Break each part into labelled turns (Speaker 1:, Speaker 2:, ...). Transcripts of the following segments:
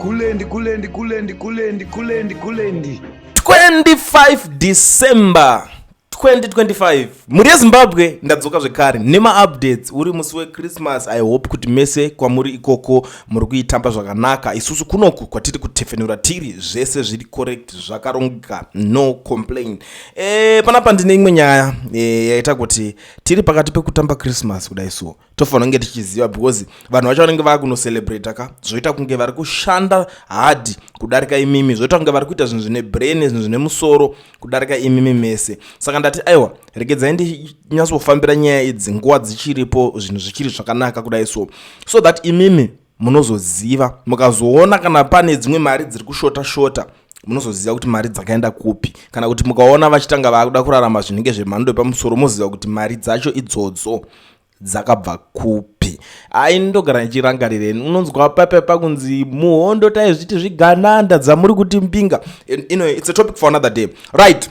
Speaker 1: Kulendi, kulendi, kulendi, kulendi, kulendi,
Speaker 2: kulendi. 25 December 2025 mhuri yezimbabwe ndadzoka zvekare nemaupdates uri musi wechristmas i hope kuti mese kwamuri ikoko muri kuitamba zvakanaka isusu kunoku kwatiri kutefenura tiri zvese zviri correct zvakarongeka no complain e, panapa ndine imwe nyaya e, yaita kuti tiri pakati pekutamba christmas kudai so tofanira kunge tichiziva because vanhu vacho vanenge vava kunocelebrata ka zvoita kunge vari kushanda hadi kudarika imimi zvoita kunge vari kuita zvinhu zvine brain zvinhu zvine musoro kudarika imimi mese saka ndati aiwa regedzai ndinyatsofambira nyaya idzi nguva dzichiripo zvinhu zvichiri zvakanaka kudai so so that imimi munozoziva mukazoona kana pane dzimwe mari dziri kushota shota munozoziva kuti mari dzakaenda kupi kana kuti mukaona vachitanga vaakuda kurarama zvinenge zvemhando yepamusoro moziva kuti mari dzacho idzodzo dzakabva kupi ai ndogara ndichirangarireni unonzwa pape pakunzi muhondo taizviti zvigananda dzamuri kuti mbinga inoyo its a topic for another day right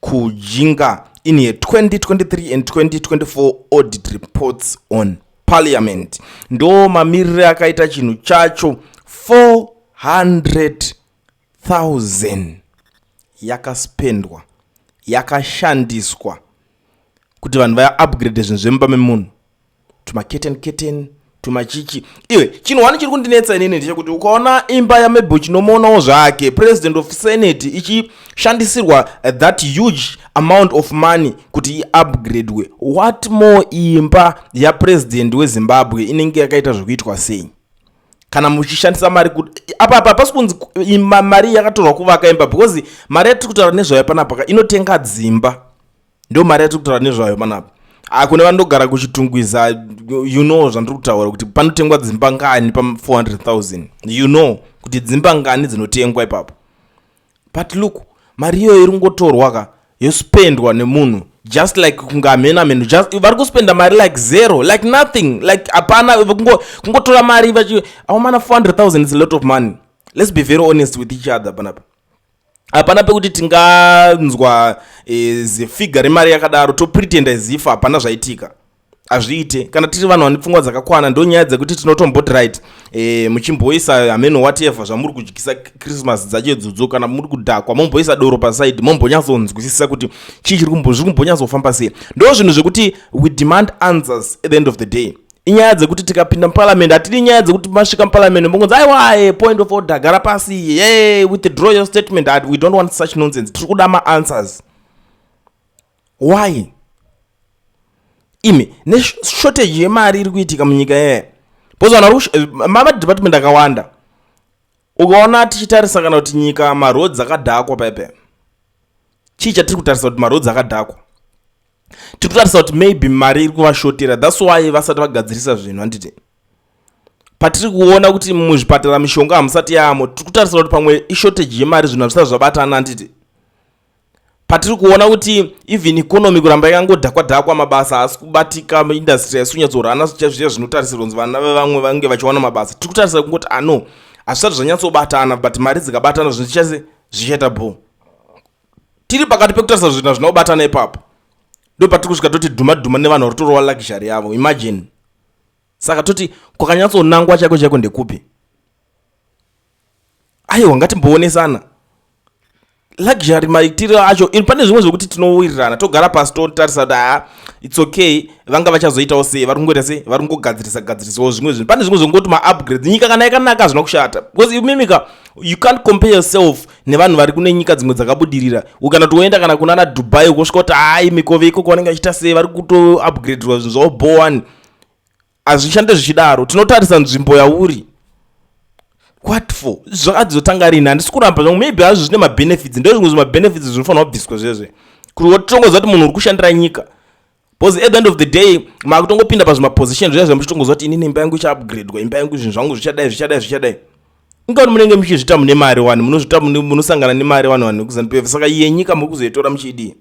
Speaker 2: Kujinga in year 2023 and 2024 audit reports on parliament ndo mamirire akaita chinhu chacho 400,000 yakaspendwa yakashandiswa kuti vanhu vaya upgrade zvinhu zvemumba memunhu tumaketen keten tumachichi iwe chinhu wani chiri kundinetsa inini ndechekuti ukaona imba yamebo chinomoonawo zvake president of senate ichishandisirwa eh, that huge amount of money kuti iupgradwe what more imba yapresident wezimbabwe inenge yakaita zvekuitwa sei kana muchishandisa mari kuti apa apa pasi kunzi mari yakatorwa kuvaka imba because mari yatiri kutaura nezvayo panapaka inotenga dzimba ndo mari yatiri kutaura nezvayo panapa akune ah, vanogara kuchitungwiza you know zvandiri kutaura kuti panotengwa dzimba ngani pa 400000 you know kuti dzimba ngani dzinotengwa ipapo but look mari iyoyo iri kungotorwa ka yospendwa nemunhu just like kunge hamena menu just vari kuspenda mari like zero like nothing like hapana kungotora mari vachi aumana 400000 is a lot of money let's be very honest with each other panapa hapana pekuti tinganzwa e, zifiga remari yakadaro topretenda zif hapana zvaitika hazviite kana tiri vanhu vane pfungwa dzakakwana ndo nyaya dzekuti tinotombot right e, muchimboisa hameno whatever zvamuri kudyisa christmas dzacho idzodzo kana muri kudhakwa momboisa doro pasaidi mombonyatsonzwisisa kuti chii chiri kumbozviri kumbonyatsofamba sei ndo zvinhu zvekuti we demand answers at the end of the day inyaya dzekuti tikapinda muparliament hatidi nyaya dzekuti masvika muparliament mongonzi aiwae point of order gara pasi ye withdraw your statement Ad, we don't want such nonsense tiri kuda maanswers why imi neshortage yemari iri kuitika munyika yeye bozana eh, mamadepartment akawanda ukaona tichitarisa kana kuti nyika maroads akadhakwa pepe chii chatiri kutarisa kuti maroads akadhakwa tiri kutarisa kuti maybe mari iri kuvashotera thats why vasati vagadzirisa zvinhu handiti patiri kuona kuti muzvipatara mishonga hamusati yaamo tiri kutarisa kuti pamwe ishortage yemari zvinhu hazvisati zvabatana handiti patiri kuona kuti even economy kuramba yakangodhakwa dhakwa mabasa haasi kubatika industry haisi kunyatsorana zviya zvinotarisirwa kunzi vana vevamwe vange vachiwana mabasa tiri kutarisa kungoti ano ah, hazvisati zvanyatsobatana but mari dzikabatana zvinhu zvichase zvichaita bhoo tiri pakati pekutarisa zvinhu hazvina kubatana ipapo ndo patiri kusvika toti dhuma dhuma nevanhu vari torova luxury yavo imagine saka toti kwakanyatsonangwa chaiko chaiko ndekupi aiwa ngatimboonesana luxury maitiro acho in pane zvimwe zvekuti tinowirirana togara pasi totarisa kuti haa its okay vanga vachazoitawo sei vari kungoita sei vari kungogadzirisa gadzirisawo zvimwe zvinhu pane zvimwe zvekungoti maupgrades nyika kana yakanaka hazvina kushata because imimika you can't compare yourself nevanhu vari kune nyika dzimwe dzakabudirira ukana toenda kana kunana dubai ukosvika kuti hai mikove ikoko vanenge vachiita sei vari kutoupgradirwa zvinhu zvavo bowani hazvishande zvichidaro tinotarisa nzvimbo yauri what for zvakadzotanga rini handisi kuramba zvangu maybe hazvo zvine mabenefits ndo zvimwe zvimabenefits zvinofanira kubviswa zvezve kuti wotongoziva kuti munhu uri kushandira nyika Because at the end of the day makutongopinda pazvimaposition zviya zvamuchitongoziva kuti inini imba yangu ichaupgradwa imba yangu zvinhu zvangu zvichadai zvichadai zvichadai ingati munenge muchizvita mune mari wani munozvita munosangana nemari wani wani kuzanupf saka yenyika muri kuzoitora muchidii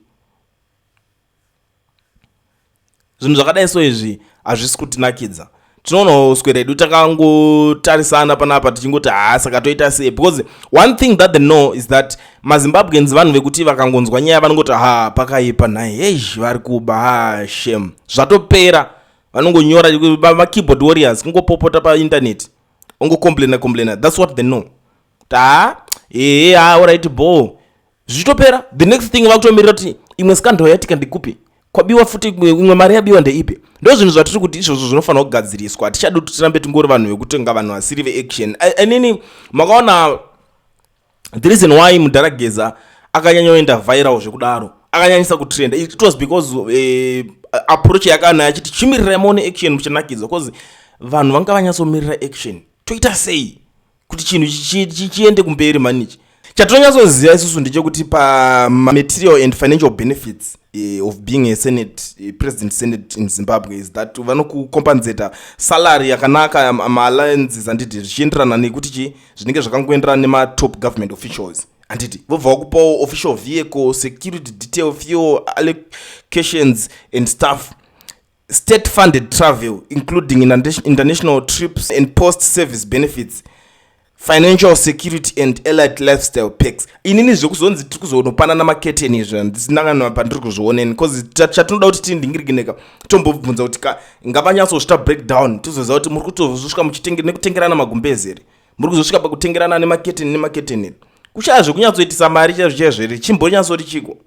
Speaker 2: zvinhu zvakadai so izvi hazvisi kutinakidza tinoonawo uswe redu takangotarisana panapa tichingoti haa saka toita sei because one thing that they know is that mazimbabweans vanhu vekuti vakangonzwa nyaya vanongoti haa pakaipa nhai heizh vari kuba haa shem zvatopera vanongonyora makeyboard warriors kungopopota paintaneti ongocomplaina complaina thats what they know taa ee haa orit boo zvichitopera the next thing vakutomirira kuti imwe scandal yatika ndikupi kwabiwa futi imwe mari yabiwa ndeipi ndo zvinhu zvatiri kuti izvozvo zvinofanira kugadziriswa hatichadi kuti tirambe tingori vanhu vekutenga vanhu vasiri veaction inini makaona the reason why mudhara geza akanyanyoenda viral zvekudaro akanyanyisa kutrenda it was because eh, approach yakanayo achiti chimirirai maone action muchanakidzwa bcause vanhu vanga vanyatsomirira action toita sei kuti chinhu chiende kumberi mani ichi chatonyatsoziva isusu ndechekuti pamaterial and financial benefits eh, of being a senate a president senate in zimbabwe is that vanokucompensata salary yakanaka maalliances anditi zvichienderana nekuti chi zvinenge zvakangoenderana nematop government officials handiti vobva vakupawo official vehicle security detail fuel allocations and stuff State funded travel including international trips and post service benefits financial security and allied lifestyle packs inini zvekuzonzi tiri kuzonopanana maketeni izvo handisinanganwa pandiri kuzvioneni bcause chatinoda kuti tindingirigineka tombobvunza kuti ka ngavanyatsozvita breakdown tizoziva kuti muri kutozosvika nekutengerana magumbezi here muri kuzosvika pakutengerana nemaketeni nemaketeni here kushaya zvekunyatsoitisa mari chaizvo chaizvo here chimbonyatsoti chiko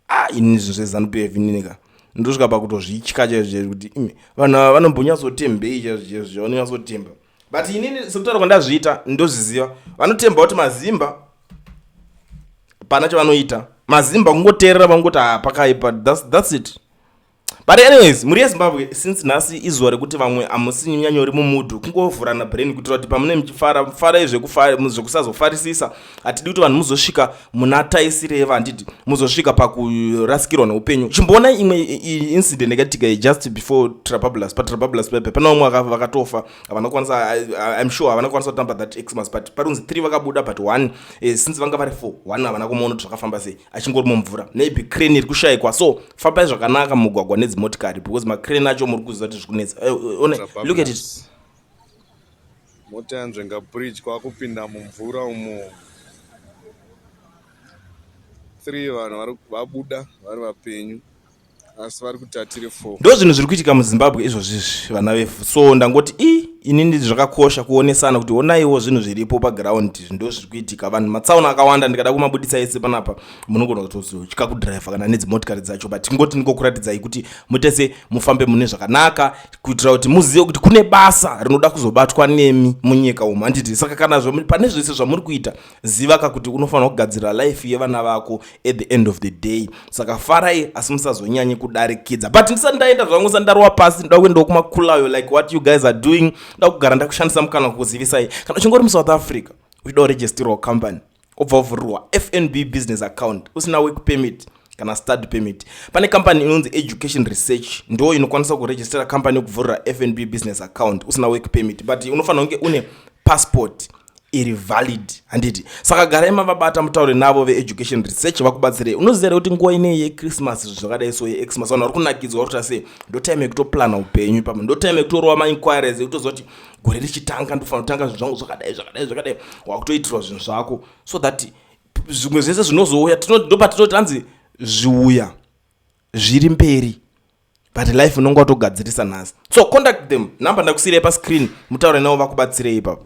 Speaker 2: ah ini zvinhu zvezanu pf inineka ndosvika pakutozvitya chaizvo chaizvo kuti imi vanhu ava vanombonyatsotembei chaizvo chaizvo zvavanonyatsotemba but inini sekutaura kwandazviita ndozviziva vanotemba kuti mazimba pana chavanoita mazimba kungoteerera vangoti hapakaipa ah, that's, that's it but anyways mhuri yezimbabwe since nhasi izuva rekuti vamwe hamusi nyanyori mumudhu kungovhurana brain kuitira kuti pamune muchifara farai zvekusazofarisisa hatidi kuti vanhu muzosvika muna taisireva handiti muzosvika pakurasikirwa neupenyu chimboona imwe incident yakatika just before trabablas patrabablas pepe pana vamwe vakatofa havana kukwanisa im sure havana kukwanisa kutamba that xmas but parinzi three vakabuda but one eh, since vanga vari four one havana kumaona kuti zvakafamba sei achingori mumvura maybe crane iri kushayikwa so fambai zvakanaka mugwagwa nedzimotikari because macrane acho muri kuziva kuti zvikunetsa eh, eh, one look at it
Speaker 1: mota yanzvenga bridge kwakupinda mumvura umo three vanhu vabuda vari vapenyu asi vari kuti atiri four ndo zvinhu zviri kuitika
Speaker 2: muzimbabwe izvozvizvi vana vefu so ndangoti i inini zvakakosha kuonesana kuti onaiwo zvinhu zviripo paground ndo zviri kuitika vanhu matsaona akawanda ndikada kumabudisa ese panapa munogona kutotya kudriver kana nedzimotikari dzacho but tingoti ndikokuratidzai kuti mutese mufambe mune zvakanaka kuitira kuti muzive kuti kune basa rinoda kuzobatwa nemi munyika umu handiti saka kana pane zvese zvamuri kuita ziva ka kuti unofanira kugadzirira life yevana vako at the end of the day saka farai asi musazonyanye kudarikidza but ndisati ndaenda zvangu sa ndarova pasi ndoda kuendawo kumakulayo like what you guys are doing ndoda kugara ndakushandisa mukana kukuzivisai kana uchingori muSouth Africa uchida kuregisterwa company obva ovhurirwa FNB business account usina work permit kana study permit pane company inonzi education research ndo inokwanisa kuregistera company yokuvhurira fnb business account usina work permit but unofanira kunge une passport iri valid handiti saka garai mavabata mutaure navo veeducation research vakubatsirei unoziva here kuti nguva inei yechristmas zvinhu zvakadai so yexmas vanhu vari kunakidzwa vari kuta sei ndotime yekutoplana upenyu ipapo ndotime yekutorova mainquiries yekutoziva kuti gore richitanga ndofanira kutanga zvinhu zvangu zvakadai zvakadai zvakadai wakutoitirwa zvinhu zvako so that zvimwe zvese zvinozouya ndopatinoti anzi zviuya zviri mberi but life unonge watogadzirisa nhasi so contact them number ndakusiirai pascreen mutaure navo vakubatsirei ipapo